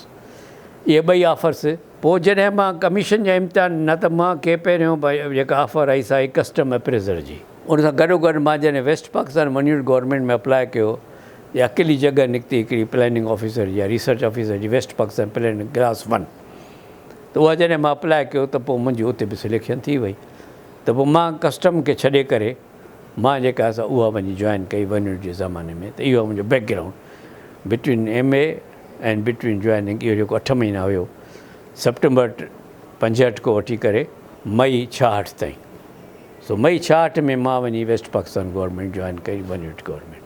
اهي ٻئي آفرس پوء جڏهن مان ڪميشن جا امتحان ڏنا ته مان کي پهريون جيڪا آفر آئي سا آئي ڪسٽم اپريزر جي ان سان گڏو گڏ مان جڏهن ويسٽ پاڪستان منيوٽ گورنمينٽ ۾ اپلاء ڪيو ته اڪيلي جڳهه نڪتي هڪڙي پلاننگ آفيسر جي يا ريسرچ آفيسر جي west Pakistan planning class one ته اها جڏهن مان اپلائي ڪيو ته پوء منهنجي اتي به سليڪشن ٿي وئي ته پوء مان ڪسٽم کي ڇڏي ڪري مان جيڪا سا اها وڃي جوائن ڪئي ونڊ جي زماني ۾ ته اهو آهي منهنجو background between M A and between joining اهو جيڪو اٺ مهينا هيو سپٽمبر پنجهٺ کان وٺي ڪري مئي ڇاهٺ تائين سو مئي ڇاهٺ ۾ مان وڃي ويسٽ پاڪستان گورنمينٽ جوائن ڪئي ونڊ گورنمينٽ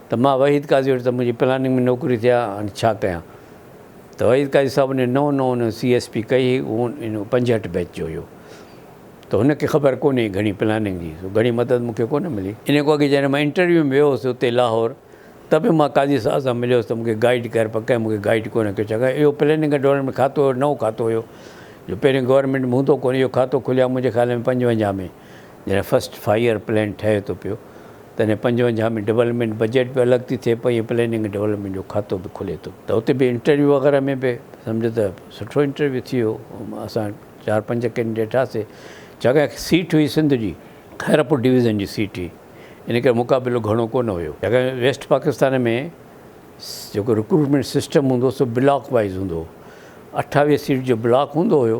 ته مان وحيد قاضي وٽ ته منهنجي پلاننگ ۾ نوڪري ٿي آ هاڻي ڇا ڪيان ته وحيد قاضي صاحب ني نئون نئون سي ايس پي ڪئي هئي اهو انهو پنجهٺ بيچ جو هيو ته هن کي خبر ڪونهي گهڻي پلاننگ جي سو گهڻي مدد مون کي ڪونه ملي انهي کان اڳي جڏهن مان انٽرويو ۾ ويو هوس اتي لاهور ته به مان قاضي صاحب سان مليو هوس ته مون کي گائيڊ ڪر پر ڪنهن مون کي گائيڊ ڪونه ڪيو ڇاڪاڻ اهو پلاننگ ۽ ڊولپمينٽ کاتو نئون کاتو هيو جو پهرين گورنمينٽ ۾ هوندو ڪونه اهو کاتو کليو آ منهنجي خيال ۾ پنجونجاهه ۾ جڏهن فرسٽ فائير پلان ٺهي ٿو پيو تڏهن پنجونجاهه ۾ ڊولپمينٽ بجيٽ به الڳ ٿي ٿئي پئي ۽ پلاننگ ڊولپمينٽ جو کاتو به کلي ٿو ته اتي به انٽرويو وغيره ۾ به سمجهه ته سٺو انٽرويو ٿي ويو اسان چار پنج ڪينڊيڊيٽ هئاسي چاڪاڻ سيٽ هئي سنڌ جي خيرپور ڊويزن جي سيٽ هئي ان ڪري مقابلو گهڻو ڪونه هيو چاڪاڻ ويسٽ پاڪستان ۾ جيڪو رڪروٽمينٽ سسٽم هوندو سو بلاڪ وائيز هوندو هو اٺاويهه سيٽ جو بلاڪ هوندو هيو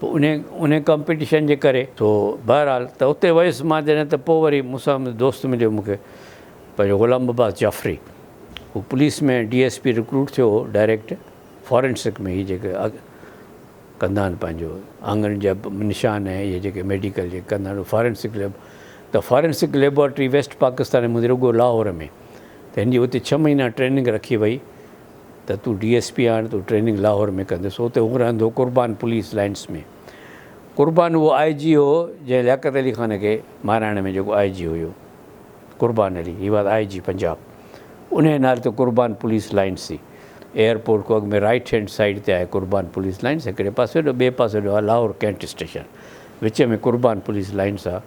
پوء انهي انهي ڪمپيٽيشن جي ڪري سو بهرحال ته اتي ويس مان جڏهن ته پوء وري مون سان دوست مليو مون کي پنهنجو غلام عباس جعفري هو police ۾ D S P recruit ٿيو هو ڊائريڪٽ فارينسڪ ۾ هي جيڪي ڪندا آهن پنهنجو آڱرين جا نشان ۽ اهي جيڪي ميڊيڪل جيڪي ڪندا آهن فارينسڪ ليب ته فارينسڪ ليبارٽري ويسٽ پاڪستان ۾ هوندي رڳو لاهور ۾ ته هن جي اتي ڇهه مهينا ٽريننگ رکي وئي ته تون ڊي ايس پي آڻ تون ٽريننگ لاهور ۾ ڪندس اتي هو رهندو قربان پوليس لائنس ۾ قربان اهو آء جي هو جنهن لياقت علي خان کي مهراڻ ۾ جيڪو آء جي هيو قربان علي هي واز آء جي پنجاب ان جي نالي ته قربان پوليس لائنس سي ايئرپورٽ کان اڳ ۾ رائيٽ هينڊ سائيڊ تي آهي قربان پوليس لائنس هڪڙي پاسي ڏو ٻئي پاسي ڏو آهي لاهور ڪينٽ اسٽيشن وچ ۾ قربان پوليس لائنس آهي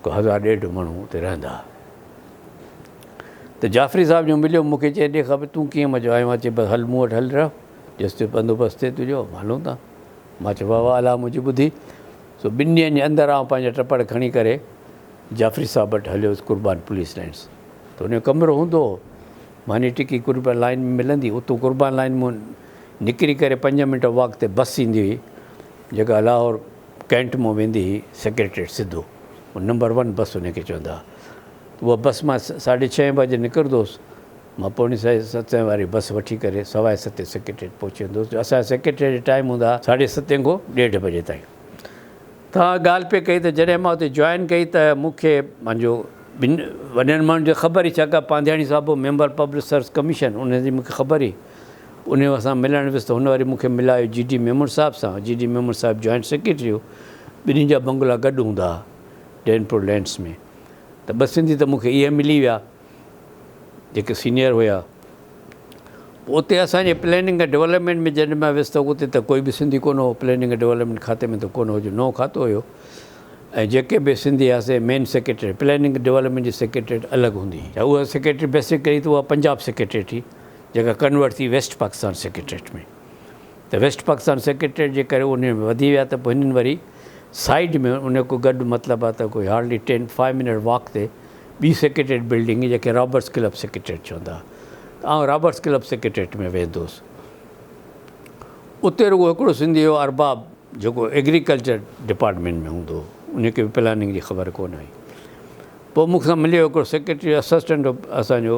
ڪو هزار ڏيڍ ماڻهو اتي رهندا ته جعفري صاحب جو مليو مون کي چئي ڏي خبر تون ڪيئن مزو آيو آهي چئي بس هل مون وٽ هل رهه جس جو بندوبست ٿئي تنهنجو هلون ٿا مان چيو واهه واهه الله منهنجي ٻڌي سو ٻن ڏينهن جي اندر آئون پنهنجا ٽپڙ کڻي ڪري جعفري صاحب وٽ هليو هوس قربان پوليس لائنس ته ان جو ڪمرو هوندو هو ماني ٽڪي قربان لائن ۾ ملندي اتو قربان لائن مون نڪري ڪري پنج منٽ واڪ تي بس ايندي هئي جيڪا لاهور ڪينٽ مون ويندي هئي سيڪريٽريٽ سڌو نمبر ون بس ان کي چوندا اها بس مان ساڍي ڇهين بجي نڪرندو هوس. مان پوڻي ساڍي ستين واري بس وٺي ڪري سوائي ستين سيڪريٽريٽ پهچي ويندو هوس جو اسان جا سيڪريٽريٽ جا ٽائيم هوندا ها ساڍي ستين کان ڏيڍ بجي تائين. توهان ڳالهه پئي ڪئي ته جڏهن مان اتي جوائن ڪئي ته مون کي پنهنجو ٻن وڏن ماڻهن جي خبر هئي ڇاڪاڻ پانڌياڻي صاحب هو ميمبر پبلڪ سروس ڪميشن ان جي مون کي خبر هئي. انهي وقت سان ملڻ ويس ته هن وري مون کي ملايو جي ڊي ميمڻ صاحب سان جي ڊي ميمڻ صاحب جوائنٽ سيڪريٽري هو ٻنهي جا بنگلا گڏ هوندا ها ڊينپور لينڊس ۾. ته ٻه سنڌي ته مونکي اهي ملي ويا جيڪي سينئر هيا پوء اتي اسان جي پليننگ ۽ ڊولپمينٽ ۾ جڏهن مان ويس ته اتي ته ڪوئي به سنڌي ڪونه هو پليننگ ۽ ڊولپمينٽ کاتي ۾ ته ڪونه هو جو نئون کاتو هيو ۽ جيڪي به سنڌي هيا سي مين سيڪريٽريٽ پليننگ ڊولپمينٽ جي سيڪريٽريٽ الڳ هوندي هئي اها سيڪريٽريٽ بيسڪلي ته اها پنجاب سيڪريٽريٽ هئي جيڪا ڪنورٽ ٿي ويسٽ پاڪستان سيڪريٽريٽ ۾ ته ويسٽ پاڪستان سيڪريٽريٽ جي ڪري انهي ۾ وڌي ويا ته پوء هنن وري سائيڊ ۾ انهي ڪو گڏ مطلب آ ته ڪوئي hardly ten five minute walk تي ٻي سيڪريٽريٽ بلڊنگ جنهن کي رابرٽس ڪلب سيڪريٽريٽ چوندا ها ته آئون رابرٽس ڪلب سيڪريٽريٽ ۾ ويندو هوس اتي رڳو هڪڙو سنڌي هو ارباب جيڪو ايگريڪلچر ڊپارٽمينٽ ۾ هوندو هو انهي کي به پلاننگ جي خبر ڪونه هئي پوء مون سان مليو هڪڙو سيڪريٽري اسسٽنٽ هو اسان جو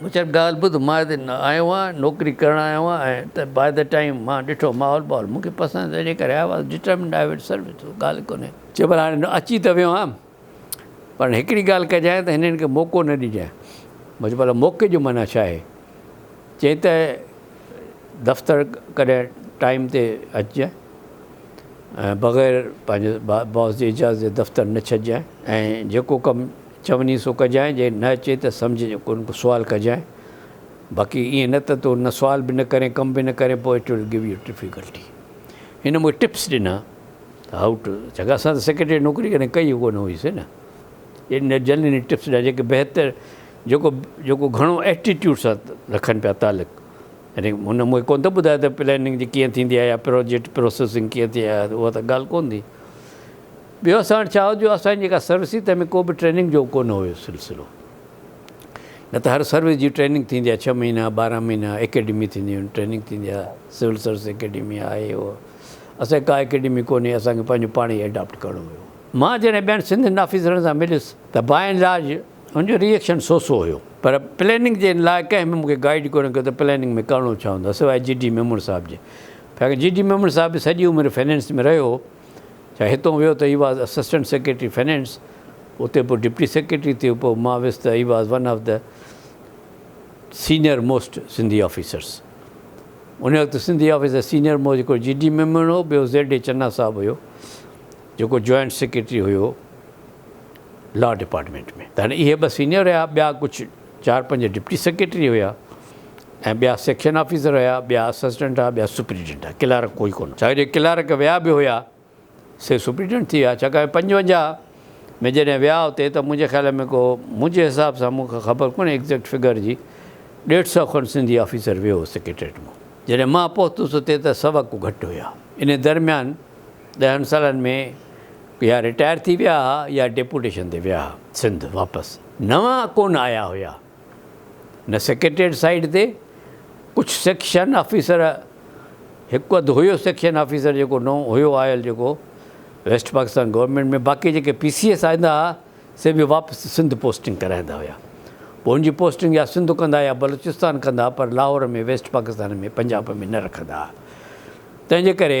مون چيو ڳالهه ٻڌ مان هتي آيو آهيان نوڪري ڪرڻ آيو آهيان ۽ ته باء دي ٽائيم مان ڏٺو ماحول ٻاحول مون کي پسند نه تنهنجي ڪري آيو آهيان ڊٽرمنڊ آء ول سرو يو ڳالهه ڪونهي. چيو پر هاڻي اچي ته ويو آهيان پر هڪڙي ڳالهه ڪجانء ته هنن کي موقعو نه ڏجانء مون چيو ڀلا موقعي جو معنيٰ ڇا آهي چيائين ته دفتر ڪڏهن ٽائيم تي اچجانء ۽ بغير پنهنجي باس جي اجازت جي دفتر نه ڇڏجانء ۽ جيڪو ڪم چوڃي سو ڪجانء، جي نه اچي ته سمجهه جو ڪو نه ڪو سوال ڪجانء، باقي ائين نه ته تون نه سوال به نه ڪرين ڪم به نه ڪرين پوء it will give you difficulty. هن مون کي ٽپس ڏنا ته هائو ٽو ڇاڪاڻ اسان ته سيڪريٽريٽ جي نوڪري ڪڏهن ڪئي ڪو نه هئيسين نه ايڏي جلدي هن ٽپس ڏنا جيڪي بهتر جيڪو جيڪو گهڻو ايٽيٽيوڊ سان رکن پيا تعلق يعني هن مون کي ڪو نه ٿو ٻڌائي ته پلاننگ جي ڪيئن ٿيندي آهي يا پروجيڪٽ پروسيسنگ ڪيئن ٿئي ها اها ته ڳالهه ڪو نه ٿي ٻيو اسان وٽ ڇا هو جو اسان جي جيڪا سروس هئي تنهن ۾ ڪو به ٽريننگ جو ڪونه هيو سلسلو نه ته هر سروس جي ٽريننگ ٿيندي آهي ڇهه مهينا ٻارهن مهينا اڪيڊمي ٿينديون آهن ٽريننگ ٿيندي آهي سول سروس اڪيڊمي آهي اهو اسان جي ڪا اڪيڊمي ڪونهي اسان کي پنهنجو پاڻ ئي ايڊاپٽ ڪرڻو هيو مان جڏهن ٻين سنڌين آفيسرن سان مليس ته باء اينڊ لارج ان جو ري ايڪشن سو سو هيو پر پليننگ جي لاء ڪنهن به مون کي گائيڊ ڪونه ڪيو ته پليننگ ۾ ڪرڻو ڇا هوندو آهي سواء جي ڊي ميمڻ صاحب جي ڇاڪاڻ جي ڊي ميمڻ صاحب به سڄي عمر فنانس ۾ رهيو هو ڇا هتون ويو ته he was assistant secretary finance اتي پوء ڊپٽي سيڪريٽري ٿيو پوء مان ويس ته he was one of the senior most Sindhi officers ان وقت سنڌي آفيسر سينئر موسٽ هڪڙو جي ڊي ميمڻ هو ٻيو زيڊ اي چنا صاحب هيو جيڪو جوائنٽ سيڪريٽري هيو لا ڊپارٽمينٽ ۾ ته هاڻي اهي ٻه سينئر هيا ٻيا ڪجهه چار پنج ڊپٽي سيڪريٽري هيا ۽ ٻيا سيڪشن آفيسر هيا، ٻيا اسسٽنٽ هئا، ٻيا سپريڊنٽ هئا، ڪلارڪ ڪوئي ڪونه. ڇاڪاڻ جو ڪلارڪ ويا به هيا سي سپريڊنٽ ٿي ويا، ڇاڪاڻ جو پنجونجاهه ۾ جڏهن ويا اتي ته منهنجي خيال ۾ ڪو منهنجي حساب سان مون کي خبر ڪونهي ايگزيڪٽ فگر جي ڏيڍ سئو کن سنڌي آفيسر ويو هو سيڪريٽريٽ مان، جڏهن مان پهتس اتي ته سوا ڪو گهٽ هيا، انهي درميان. ڏهن سالن ۾ يا رٽائر ٿي ويا ها يا ڊيپوٽيشن تي ويا ها سنڌ واپس نوان ڪونه آيا هيا نه سيڪريٽريٽ سائيڊ تي ڪجهه سيڪشن آفيسر هڪ اڌ هيو سيڪشن آفيسر جيڪو نو هيو آيل جيڪو ويسٽ پاڪستان گورنمنٽ ۾ باقي جيڪي پي سي ايس آئندا ها سي به واپس سنڌ پوسٽنگ ڪرائيندا هيا پوء ان جي پوسٽنگ يا سنڌ ڪندا يا بلوچستان ڪندا پر لاهور ۾ ويسٽ پاڪستان ۾ پنجاب ۾ نه رکندا ها تنهن جي ڪري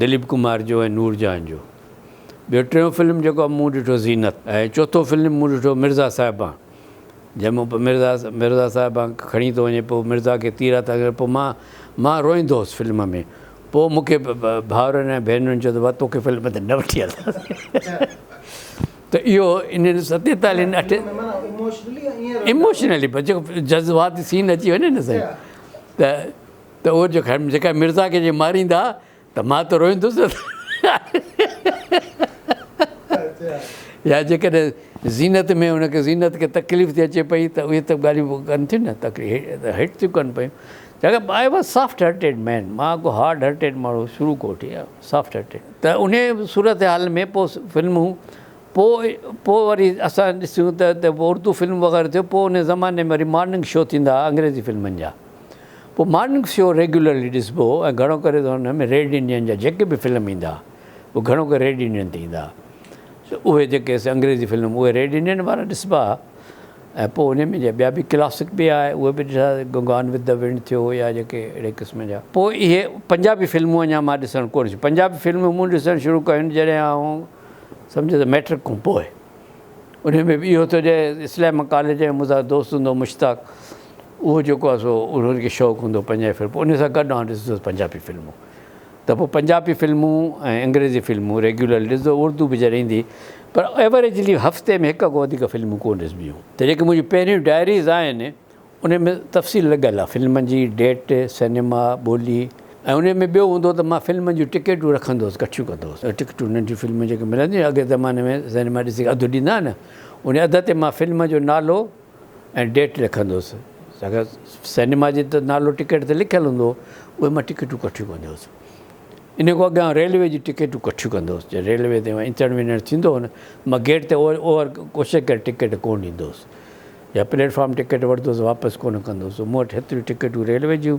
دليپ ڪمار جو ۽ نور جهان جو ٻيو ٽيون فلم جيڪو مون ڏٺو زينت ۽ چوٿون فلم مون ڏٺو مرزا صاحبان جنهن مون مرزا مرزا صاحبان کڻي ٿو وڃي پوء مرزا کي تير هٿ ڪري پوء مان مان روئندو هوس فلم ۾ پوء مون کي ڀاورن ۽ ڀينرن چيو ته توکي فلم تي نه وٺي هلنداسين ته اهو انهن ستيتالين اٺين ايموشنلي بس جيڪو جذباتي سين اچي وڃي نه سائين ته ته اهو جو خير جيڪا مرزا کي جي ماريندا ته مان ته روئيندس نه يا جيڪڏهن زينت ۾ ان کي زينت کي تڪليف ٿي اچي پئي ته اهي ته ڳالهيون ڪن ٿيون نه تڪليف هيٺ ٿيون ڪن پيون چونڪه I was soft hearted man مان ڪو هارڊ هرٽيڊ ماڻهو شروع کان وٺي سافٽ هرٽيڊ ته ان صورت حال ۾ پوء فلمون پوء پوء وري اسان ڏسيون ته اردو فلم وغيره ٿيو پوء ان زماني ۾ وري مارننگ شو ٿيندا انگريزي فلمن جا پوء مارننگ شو ريگيولرلي ڏسبو هو ۽ گهڻو ڪري ته ان ۾ ريڊ انڊين جا جيڪي به فلم ايندا اهي گهڻو ڪري ريڊ انڊين تي ايندا سو اهي جيڪي اسين انگريزي فلم اهي ريڊ انڊين وارا ڏسبا هئا ۽ پوء ان ۾ جا ٻيا به ڪلاسڪ به آهي اهي به ڏسا گان وٿ دي ونڊ ٿيو يا جيڪي اهڙي قسم جا پوء اهي پنجابي فلمون اڃا مان ڏسڻ ڪونه شروع پنجابي فلمون مون ڏسڻ شروع ڪيون جڏهن آئون سمجهه ته ميٽرڪ کان پوء. انهي ۾ به اهو ٿو چئي اسلام ڪاليج جا منهنجا دوست هوندو مشتاق اهو جيڪو آهي سو انهن کي شوق هوندو پنجابي فلم انهي سان گڏ آن ڏسندو پنجابي فلمون ته پوء پنجابي فلمون ۽ انگريزي فلمون ريگيولرلي ڏسندو اردو به جڏهن ايندي پر ايوريجلي هفتي ۾ هڪ کان وڌيڪ فلمون ڪونه ڏسبيون ته جيڪي منهنجي پهريون ڊائريز آهن انهي ۾ تفصيل لڳل آهي فلمن جي ڊيٽ، سئنيما، ٻولي ۽ انهي ۾ ٻيو هوندو ته مان فلمن جون ٽڪيٽون رکندو هوس ڪٺيون ڪندو هوس ٽڪيٽون ننڍيون فلمون جيڪي ملنديون هيون اڳي زماني ۾ سئنيما ڏسي اڌ ڏيندا هئا نه انهي اڌ تي مان فلم جو نالو ۽ ڊيٽ لکندو هوس ڇاڪاڻ سئنيما جي ته نالو ٽڪيٽ تي لکيل هوندو هو اهي مان ٽڪيٽون ڪٺيون ڪندو هوس انهي کان اڳيان ريلوي جي ٽڪيٽون ڪٺيون ڪندو هوس جڏهن ريلوي تي اچڻ وڃڻ ٿيندو هو نه مان گيٽ تي اوور ڪوشش ڪري ٽڪيٽ ڪونه ڏيندو هوس يا پليٽ فارم ٽڪيٽ ورتوس واپس ڪونه ڪندوس مون وٽ هيتريون ٽڪيٽون ريلوي جون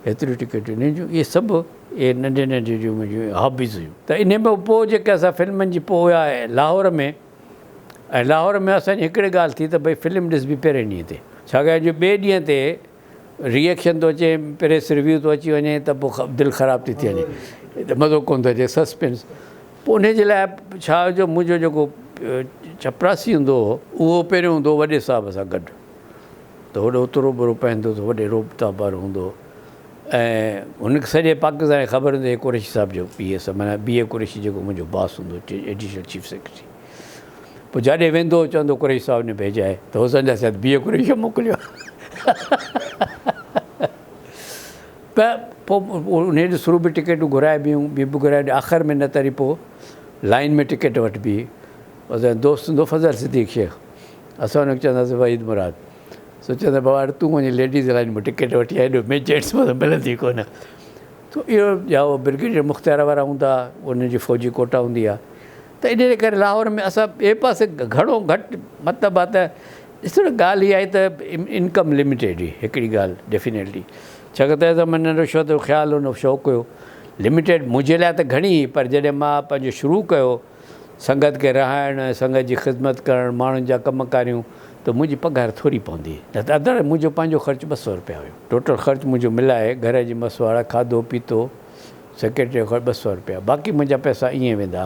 هيتريون ٽڪيٽون انهن جون اهي سڀ اهي ننڍي ننڍي جون منهنجون هابيز هيون ته انهن کان پوء جيڪي اسان فلمن جي پوء آء لاهور ۾ ۽ لاهور ۾ اسان جي هڪڙي ڳالهه ٿي ته ڀئي فلم ڏسبي پهرين ڏينهن تي ڇاڪاڻ جو ٻئي ڏينهن تي ري ايڪشن ٿو اچي پريس ريويو ٿو اچي وڃي ته پوء دل خراب ٿي ٿي وڃي ته مزو ڪون ٿو اچي سسپينس پوء ان جي لاء ڇا جو منهنجو جيڪو چپراسي هوندو هو اهو پهريون هوندو هو وڏي صاحب سان گڏ ته هوڏو اترو برو پهندو ته وڏي روبتا بر هوندو هو ۽ هن سڄي پاڪستان کي خبر هوندي قريشي صاحب جو پي ايس معنيٰ بي اي قريشي جيڪو منهنجو باس هوندو ايڊيشنل چيف سيڪريٽري پوء جاڏي ويندو هو چوندو قريشي صاحب ني ڀيجا هي ته حسن جا سيد بيهه قريشي موڪليو ته پوء انهي ڏي سرو به ٽڪيٽون گهرائي بيون بي به گهرائي آخر ۾ نه تري پوء لائين ۾ ٽڪيٽ وٺبي اسان دوست هوندو فضل صديق شيخ اسان ان کي چوندا هئاسين وحيد مراد سو چوندا بابا هاڻي تون وڃي ليڊيز لائين ۾ ٽڪيٽ وٺي آ هيڏو مين جينٽس مان ملندي ڪونه تو اهو يا برگيڊيئر مختيار وارا هوندا ان جي فوجي ڪوٽا هوندي آ ته ان جي ڪري لاهور ۾ اسان ٻئي پاسي گهڻو گهٽ مطلب آهي ته ڏسو نه ڳالهه اها آهي ته انڪم لميٽيڊ هئي هڪڙي ڳالهه ڊيفينيٽلي ڇاڪاڻ ته ايز منهن رشوت جو خيال هو شوق هيو لميٽيڊ منهنجي لاء ته گهڻي هئي پر جڏهن مان پنهنجو شروع ڪيو سنگت کي رهائڻ ۽ سنگت جي خدمت ڪرڻ ماڻهن جا ڪم ڪاريون ته منهنجي پگهار ٿوري پوندي هئي نه ته اڌڙ منهنجو پنهنجو خرچ ٻه سؤ روپيا هيو ٽوٽل خرچ منهنجو ملائي گهر جي مسواڙ کاڌو پيتو سيڪريٽريء کان ٻه سؤ رپيا، باقي منهنجا پئسا ائين ويندا.